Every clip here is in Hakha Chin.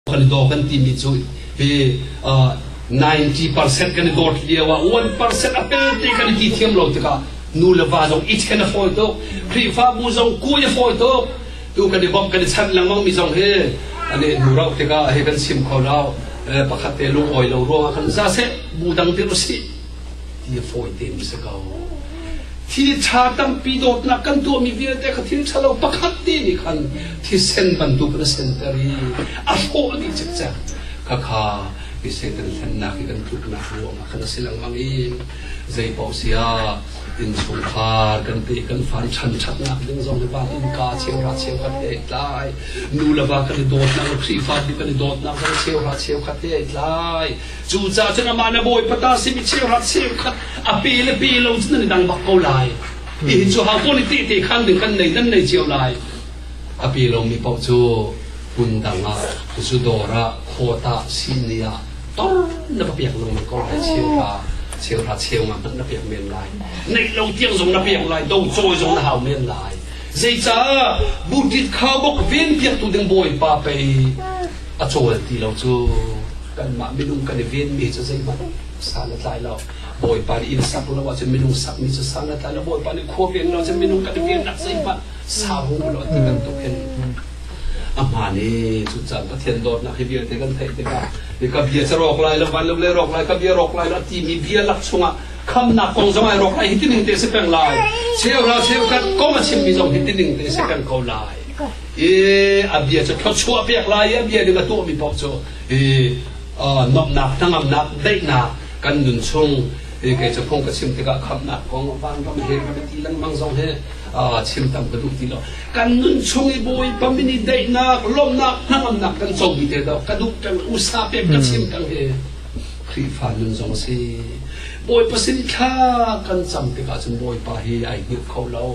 Paldaw kan timi cu hi ninety percent kan i dawt lio ah one percent a pelte kan i ti thiam lo tikah nu le va zong it khen a fawi tuk khrihfabu zong kui a fawi tuk tu kan i bawmh kan i chanh lengmang mi zong hi an i hnu rauh tikah hi kan sim kho lo pakhat te lungawi lo ruang ah kan za seh bu dang tir usih Hi fawi tein si ko. Thiltha tampi dawtnak kan tuahmi vialte kha thil thalo pakhat ti nih khan thisen bantuk in a senter i a hrawh dih cikcek. Khakha hi Satan hlennak hi kan tluknak ruangah khan a si lengmang i zeipaoh sia innchungkhar kan te kan fan chan thatnak ding zong hi van innka cheuhra cheu khat he tlai nu le va kan i dawtnak le khrihfabu kan i dawtnak zong cheuhra cheu khat he tlai Cucaah cun amah na bawipa ta simi cheuhrat cheukhat a pe le pe lo cun nan i dang bak ko lai. Hihi cu hautawn i tehte khan ding kan nei nan nei cio lai. A pe lomi paoh cu hmun dang ah cucu dawr ah khawt ah sinni ah tor na va piak lengmang ko lai cheu ra cheu ra cheu nga hmanh na piak men lai neih lo tiang zong na piak lai do cawi zong na hau men lai zeicah butit khaubok ven piaktu ding bawipa pei A cawl ti lo cu kanmah minung kan i venmi cu zeihmanh sal a tlai lo. Bawipa nih inn sak lo ahcun minung sakmi cu sal a tlai lo. Bawipa nih khua veng lo ahcun minung kan i vennak zeihmanh sa hung u law ti bantuk hin a hmaan i cucaah Pathian dawtnak hi vialte kan theih tikah nih ka bia cu rawk lai lo van lo le rawk lai ka bia rawk lai lo a timi bia lak chungah khamnak kong zong ai rawk lai hitining te si peng lai cheu ral cheu kan kong a chimmi zong hitining te si peng ko lai i a bia cu thluachuah pek lai i a bia ning a tuahmi paoh cu i nomhnak hnangamnak daihnak kan nun chung i kei cu phung ka chim tikah khamnak kong vanram he kan ti lengmang zong he chim tam ka duh ti lo kan nun chung i bawipa min i daihnak lawmhnak hnangamnak kan comi te do ka duh tang usa pem ka chim tang he Khrihfa nun zong si bawipa sin thla kan cam tikah cun bawipa hi ai hngilh kho lo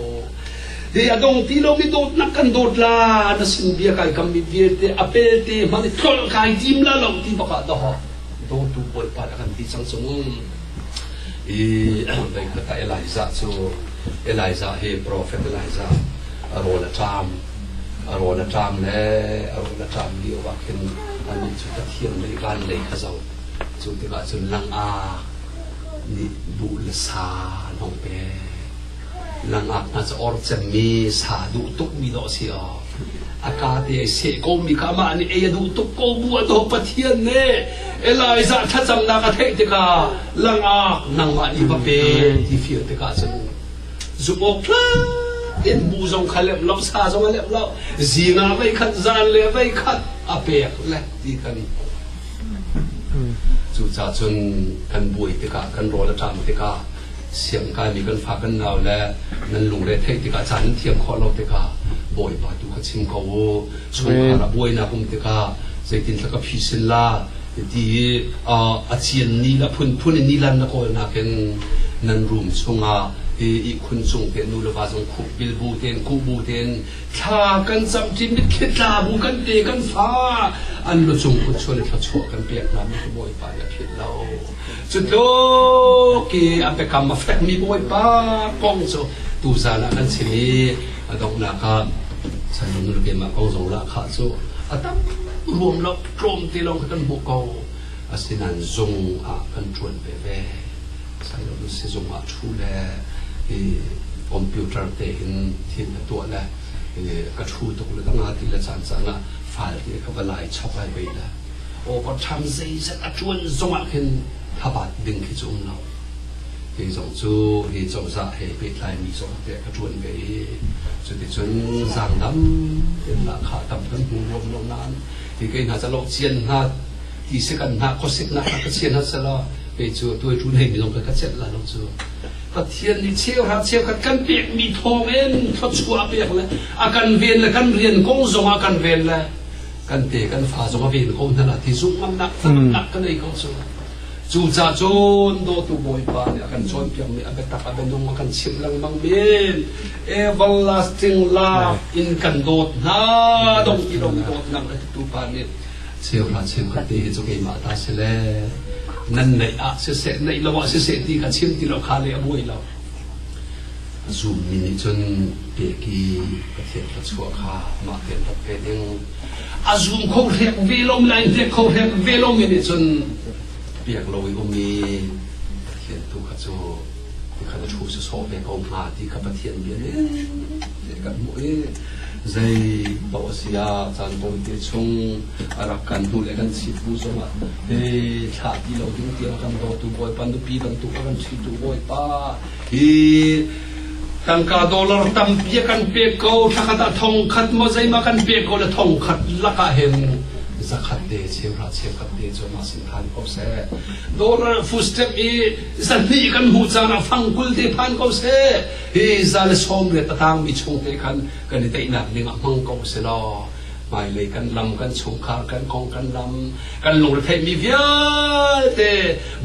Ve a dong ti lo mi dawtnak kan dawt la na sin bia kai kam mi vialte a pelte hmanh i tlolh kai tim la lo ti bak ah daw dawtu bawipa a kan ti cang cung i bei kata Elijah cu Elijah he prophet Elijah a rawl a ṭam a rawl a ṭam le a rawl a ṭam lio bak hin anih cu Pathian lei van lei a zo cu tikah cun lang a nih bu le sa an hong pek nangah na caor cemmi sa duh tukmi dawh a si aw a ka te ai seh komi ka mah nih ei a duh tuk ko bu a daw pathian nih elijah thlacamnak a theih tikah langak nangmah nih va pe ti feel tikah cun zumh awk in bu zong kha lem lo sa zong a lem lo zinga vei khat zan le vei khat a pek le ti kan cuca cun kan buai tikah kan rawl a ṭam tikah siang kaimi kan fa kan nau le nan lungre theih tikah caan nan thiam khawh lo tikah bawipa tu kha chim ko u chungkhar a buainak um tikah zeitin thlaka phi sin la ti i a cian ni le phunphun i nilan na kawl nakin nan room chungah i ihkhun cung te nu le va zong khup bil bu ten ku bu ten thla kan cam ṭin mit khit tla bu kan te kan fa an lu cung kun chuan thla chuah kan pek na mi bawipa ya phit lo Cutluk i an biakam a fekmi Bawipa kong cu tuzan ah kan sin i a donghnak ah sanlung nu keimah ko zola khah cu a tam ruam lo tlawm te lawng kan hmuh ko asinain zung ah kan ṭuan veve sanlung nu sizung ah ṭhu le i computer te in thil ka tuah le ka ṭhu tuk le ka nga ti le caan caan ah fal te ka va lai chok ai beih le overtime zeizat a ṭuan zongah khin thlabat ding khi cu um lo hi zong cu hi cozah he pehtlaimi zong te a ṭuan ve i cuticun zangdam in lahkhah tam kan hmu ruam lo nain hi kei hna calo cian hna ti se kan hna khuasik hna ka cian hna sela kei cu tuaitu nei mi zong ka ka celh la lo cu Pathian nih cheu ha cheu khat kan pek mi thawng in thawchuah a pek le a kan ven le kan rian kong zong a kan ven le kan te kan fa zong a ven ko hna la ti zung ngamnak taktak kan ei ko cu cu ca cun dawtu bawipa nih a kan cawnpiak mi a biatak a bianung a kan chimh lengmang men everlasting love in kan dawt hna dong ti dong dawt nang a tu pa nih cheuhra cheuhra te hi cu keimah ta si le nan neih ah siseh neih lo ah siseh ti ka chim ti lo kha le a buai lo Zummi nih cun peki pathian thluachuah kha mah tein rak pe ding. A zum kho hrek ve lomi le hrek kho hrek ve lomi nih cun piak lo i um i pathian tu kha cu ti kha na thu si sawh ve ko hnga ti kha pathian bia nih kan hmuh i zei paoh a si ah caan tawite chung a rak kan hnu le kan chit bu zongah he thlah ti lo ding tiang kan dawtu bawipa nupi dang tu kan chitu bawipa hi tangka dollar tampi kan pe ko thakhat a thong khat mo zeima kan pe ko le thong khat laka hen zakhat te cheu ra cheu khat te cho ma sin than ko se dollar footstep i zanni kan hu cana fangkul te phan ko se hi za le som re tatang mi chung te khan kan i teinak ning a hmang ko se lo hmailei kan lam kan chungkhar kan kong kan lam kan lungretheihmi vialte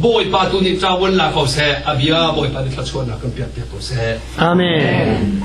bawipa tu nih cawan la ko seh a bia bawipa nih thlachuahnak kan piak piak ko seh amen